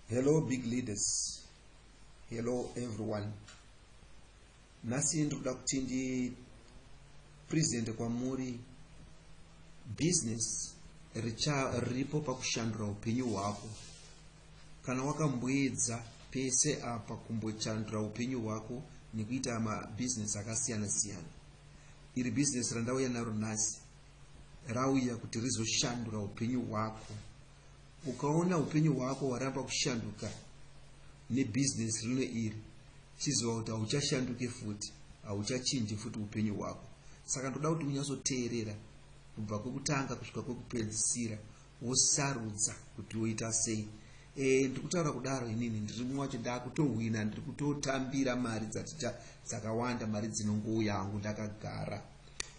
Hello big leaders. Hello everyone. Nasi ndikuda kuti ndi present kwamuri business richa ripo pakushandura upenyu hwako. Kana wakamboedza pese apa kumbochandura upenyu hwako nekuita ma business akasiyana siyana. Iri business randauya naro nhasi rauya kuti rizoshandura upenyu hwako Ukaona upenyu hwako hwaramba kushanduka nebusiness rino iri, chiziva kuti hauchashanduke futi, hauchachinje futi upenyu hwako. Saka ndoda kuti unyatsoteerera kubva kwekutanga kusvika kwekupedzisira, wosarudza kuti woita sei. E, ndiri kutaura kudaro inini ndiri mumwe wacho ndakutohwina, ndiri kutotambira mari dzaticha dzakawanda, mari dzinongouya hangu ndakagara.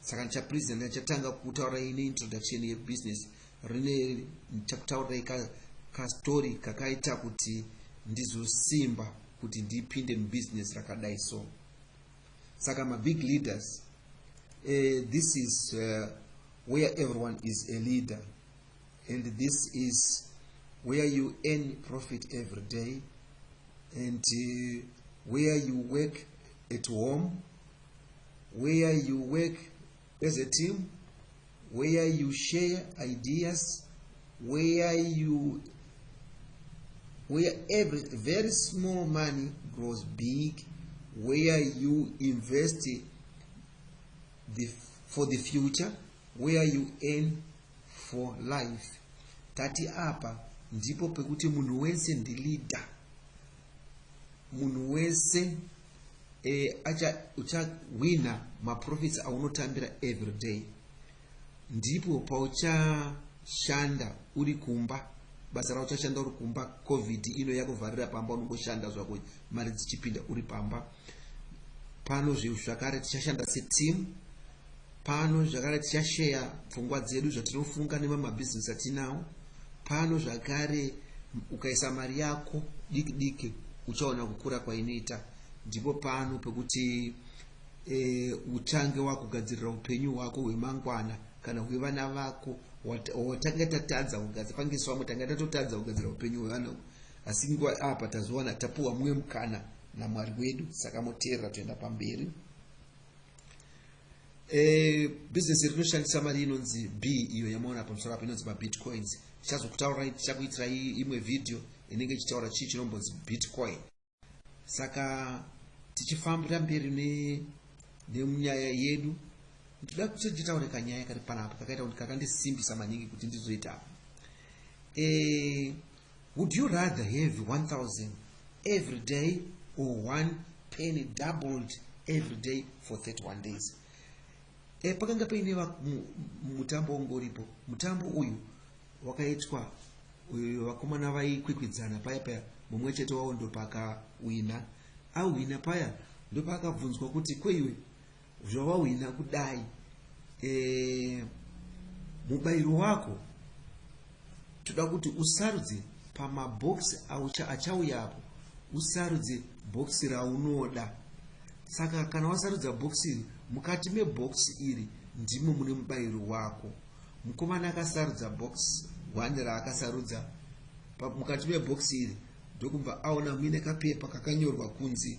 Saka ndichaprezenta, ndichatanga kutaura ine introduction yebusiness rine ndichakutaurai ka, ka story kakaita kuti ndizosimba kuti ndipinde mubusiness rakadai so saka mabig leaders uh, this is uh, where everyone is a leader and this is where you earn profit every day and uh, where you work at home where you work as a team where you share ideas where you where every very small money grows big where you invest the, for the future where you earn for life tati apa ndipo pekuti munhu wese ndileader munhu wese e, acha uchawina maprofits aunotambira every day ndipo pauchashanda uri kumba basa rauchashanda uri kumba covid ino yakuvharira pamba unongoshanda zvako mari dzichipinda uri pamba pano zvakare tichashanda seteam Pano zvakare tichasheya pfungwa dzedu zvatinofunga nemamwe mabhizinesi atinawo. Pano zvakare ukaisa mari yako diki diki uchaona kukura kwainoita. Ndipo pano pekuti e, uchange wakugadzirira upenyu hwako hwemangwana kana hwevana vako watanga tatadza kugadzira pange isu vamwe tanga tatotadza kugadzira upenyu hwevana asi nguva apa tazowana tapuwa mumwe mukana namwari wedu saka moteerera toenda pamberi Eh, business iri rinoshandisa mari inonzi b iyo yamaona pamusoro apo inonzi mabitcoins tichazokutaurai tichakuitirai imwe vhidhiyo inenge ichitaura chii chinombonzi bitcoin saka tichifambira mberi nenyaya ne yedu ndida kuti nditaure kanyaya kari panapa kakaita kuti kakandisimbisa maningi kuti ndizoita e, Would you rather have 1000 every day or one penny doubled every day for 31 days? E, pakanga paine mutambo wanga uripo. Mutambo uyu wakaitwa uyu vakomana vaikwikwidzana paya paya mumwe chete wavo ndopakawina. Awina paya ndopaakabvunzwa kuti kweiwe zvawahwina kudai e, mubairo wako toda kuti usarudze pamabhokisi achauya apo usarudze bhokisi raunoda saka kana wasarudza bhokisi iri mukati mebhokisi iri ndimo mune mubairo wako mukomana akasarudza bhokisi one raakasarudza mukati mebhokisi iri ndokubva aona muine kapepa kakanyorwa kunzi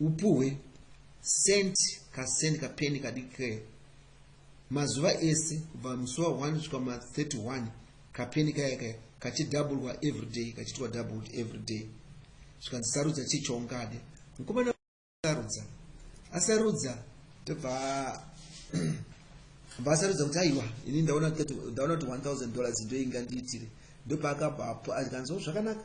Upuhwe cent ka cent ka pen kadiki ke mazuva ese kubva musi wa 1 kusvika ma 31 ka pen kaya kaya kachi double kwa every day kachitwa double every day zvikanzi sarudza chii chaungade mukomana sarudza asarudza tobva bva asarudza kuti aiwa ini ndaona kuti 1000 dollars ndoinga ndiitire ndopaakabva apo akanzwa zvakanaka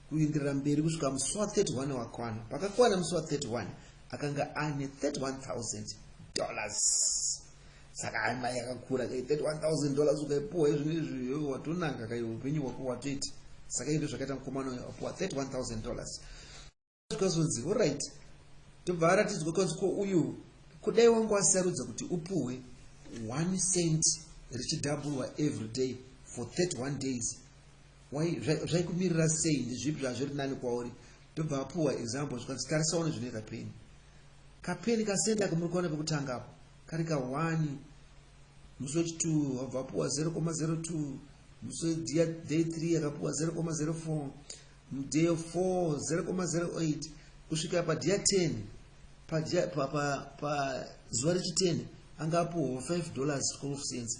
kuenderera mberi kusvika musi wa 31 wakwana pakakwana musi wa 31 akanga ane 31000 dollars saka hama yakakura kai 31000 dollars ukaipuwa izvino izvi watonanga kai upenyu hwako watoiti saka izvo zvakaita mukomana uyo apuwa 31000 dollars zvikazonzi orit tobva aratidzwa kanzi ko uyu kudai wangu asarudza kuti upuhwe 1 cent richidabulwa every day for 31 days zvaikumirira sei ndizvipi zvazviri nani kwauri tobva apuwa example zvikanzi tarisa one zvine kapeni kapeni kasenda kamuri kuona pekutanga apo kari ka one musi wechitwo wabva apuwa zero koma zero two musi wedia day three akapuwa zero koma zero four muday of four zero koma zero eight kusvika padia ten pazuva rechiteni anga apuwawo five dollars twelve cents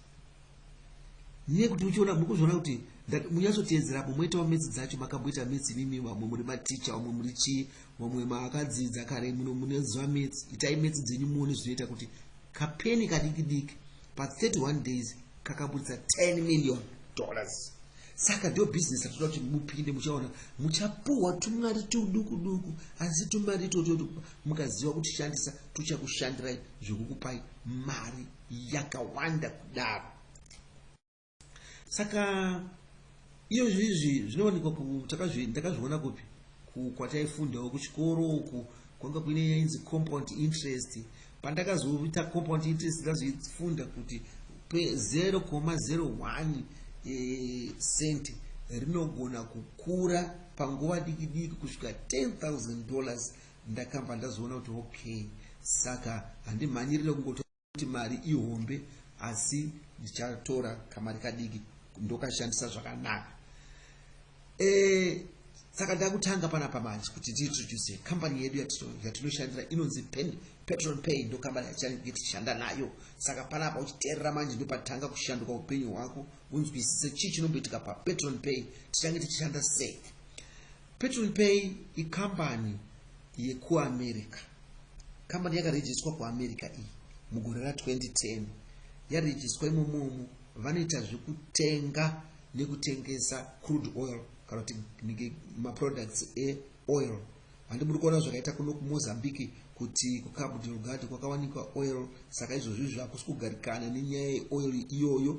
nyaya yekuti uchiona mukuzviona kuti munyatsoteedzera apo moitawo metsi dzacho makamboita metsi imimi vamwe muri maticha vamwe muri chii vamwe makadzidza kare muno munoziva metsi itai metsi dzenyu muone zvinoita kuti kapeni kadiki diki pa 31 days kakaburitsa 10 million dollars saka ndio business ratoda kuti mupinde muchaona muchapuhwa tumari tuduku duku asi tumari itoto mukaziva kutishandisa tuchakushandirai zvekukupai mari yakawanda kudaro saka iyo zvizvi zvinowanikwa ndakazviona kupi kwataifundawo kuchikoro uku kwanga kuine yainzi compound interest pandakazoita compound interest ndazoifunda kuti pe 0,01 e, cent rinogona kukura panguva diki diki kusvika 10000 dollars Ndakabva ndazoona kuti okay saka handimhanyirire kungotora kuti mari ihombe asi ndichatora kamari kadiki ndokashandisa zvakanaka eh saka ndakutanga pana pamanje kuti tiintroduce company yedu yatinoshandira inonzi pen petrol pay ndo company yatichashanda nayo saka panapa uchiteerera manje ndopatanga kushanduka upenyu hwako unzwisise chii chinomboitika papetrol pay tichange tichishanda sei PetronPay ikambani yekuAmerica. Kambani yakarejiswa kuAmerica iyi mugore ra2010 yarejiswa imomomo vanoita zvekutenga nekutengesa crude oil kana kuti maproducts eoil handi muri kuona zvakaita kuno kumozambique kuti kucabo delgado kwakawanikwa oil saka izvozvo izvi hakusi kugarikana nenyaya yeoil iyoyo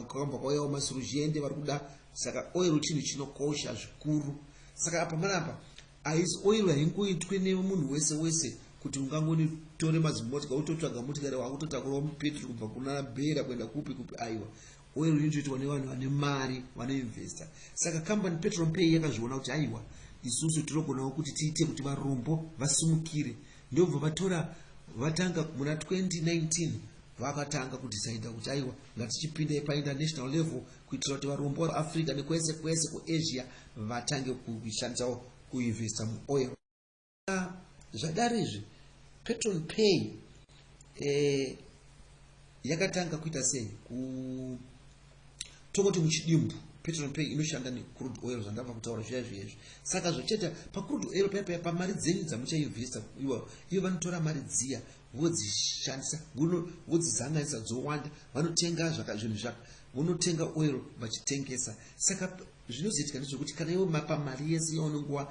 kwakambwa kwauyawo masuruzhende vari kuda saka oil chinhu chinokosha zvikuru saka apa manapa haisi oil haingoitwe nemunhu wese wese kuti ungangonitore mazimotika wototsvaga motikari wakutotakurawo mupetro kubva kuna bhera kuenda kupi kupi aiwa oil inotoitwa nevanhu vane mari vanoinvesta saka kambani petrol pay yakazviona kuti aiwa isusu tinogonawo kuti tiite kuti varombo vasimukire ndobva vatora vatanga muna 2019 vakatanga kudesaida kuti aiwa ngatichipinda painternational level kuitira kuti varombo vaafrica nekwese kwese kuasia vatange kuishandisawo kuinvesta muoil zvadaro izvi petron pay eh, yakatanga kuita sei tongoti muchidimbu petron pay inoshanda necrude oil zvandava kutaura zviya zviyezvi saka zvocheta pacrude oil paya paya pamari dzenyu dzamuchainvesta ivo vanotora mari dziya vodzishandisa vodzisanganisa dzowanda vanotenga zvaka zvinhu zvaka vonotenga oil vachitengesa saka zvinozoitika ndezvekuti kana iwe mapa mari yese yaunenge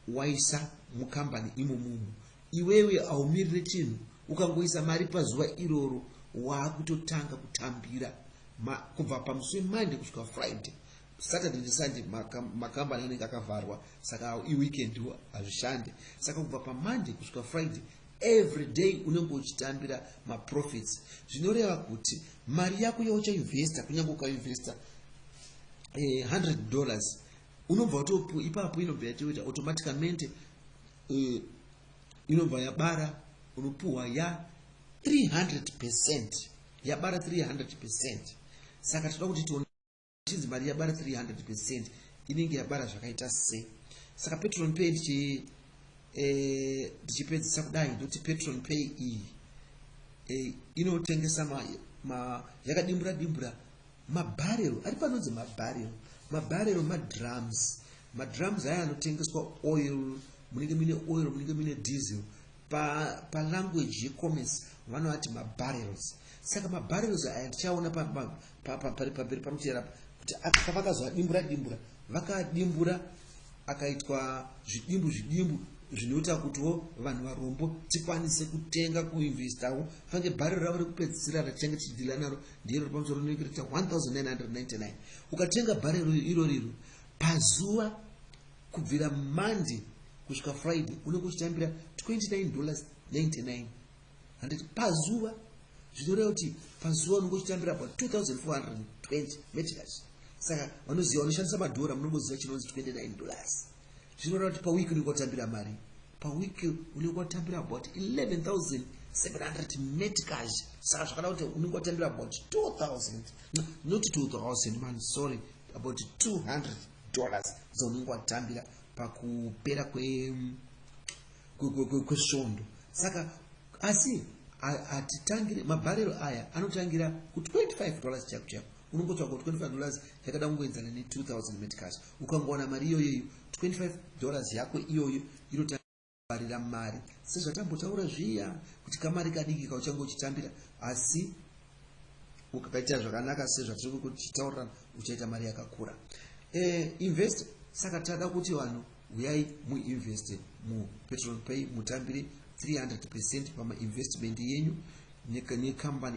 waisa mukambani imo mumu iwewe haumirire chinhu ukangoisa mari pazuva iroro waakutotanga kutambira Ma, kubva pamusi wemande kusvika friday saturday nesunday makambani anenge akavharwa saka iweekend hazvishande saka kubva pamonday kusvika friday every day unenge uchitambira maprofits zvinoreva kuti mari yako yauchainvesta kunyange ukainvesta 100 eh, dollars unobva utopu ipapo inobva yatoita automaticamente eh, inobva yabara unopuhwa ya 300 percent yabara 300 percent saka tinoda kuti tione chinzi mari yabara 300 percent inenge yabara zvakaita sei saka patron pay ndichi eh, ndichipedzisa kudai ndoti patron pay iyi eh, inotengesa ma, ma yakadimbura dimbura mabarrel ari panonzi mabarrel mabarrel madrums madrums aya anotengeswa oil munenge mine oil munenge mine diesel palanguage pa yecommerce vanoati mabarrels saka mabarrels aya tichaona pamberi pamuchera kuti aka vakazovadimbura dimbura vakadimbura akaitwa zvidimbu zvidimbu zvinoita kutiwo vanhu varombo tikwanise kutenga kuinvestawo fange bhari ravo rekupedzisira ratichenge tichidhila naro ndiro ripamusoro rinenge riita 1999 ukatenga bhari iro riro pazuva kubvira monday kusvika friday unenge uchitambira 29 dollars 99 handiti pazuva zvinoreva kuti pazuva unenge uchitambira pa 2420 meticas saka vanoziva vanoshandisa madhora munongoziva chinonzi 29 dollars zvinoreva kuti pawiki unenge watambira mari pawiki unenge watambira about 11 700 meticas saka zvakada kuti unenge watambira about 2000 not 2000 man sorry about 200 dollars dzaunenge watambira pakupera kwe kwesvondo saka asi hatitangire mabharero aya anotangira ku25 dollars chaiko chaiko unongotsvaga kuti 25 dollars yakada kungoenzana ne2000 metcas ukangowana mari iyoyoyo 25 dollars yako iyoyo inotavarira mari sezvatambotaura zviya kuti kamari kadiki kauchange uchitambira asi ukakaita zvakanaka sezvatiri kuchitaurira uchaita mari yakakura eh, invest saka tada kuti vanhu uyai muinveste mupetrol pay mutambire 300 percent pamainvestment yenyu nekambani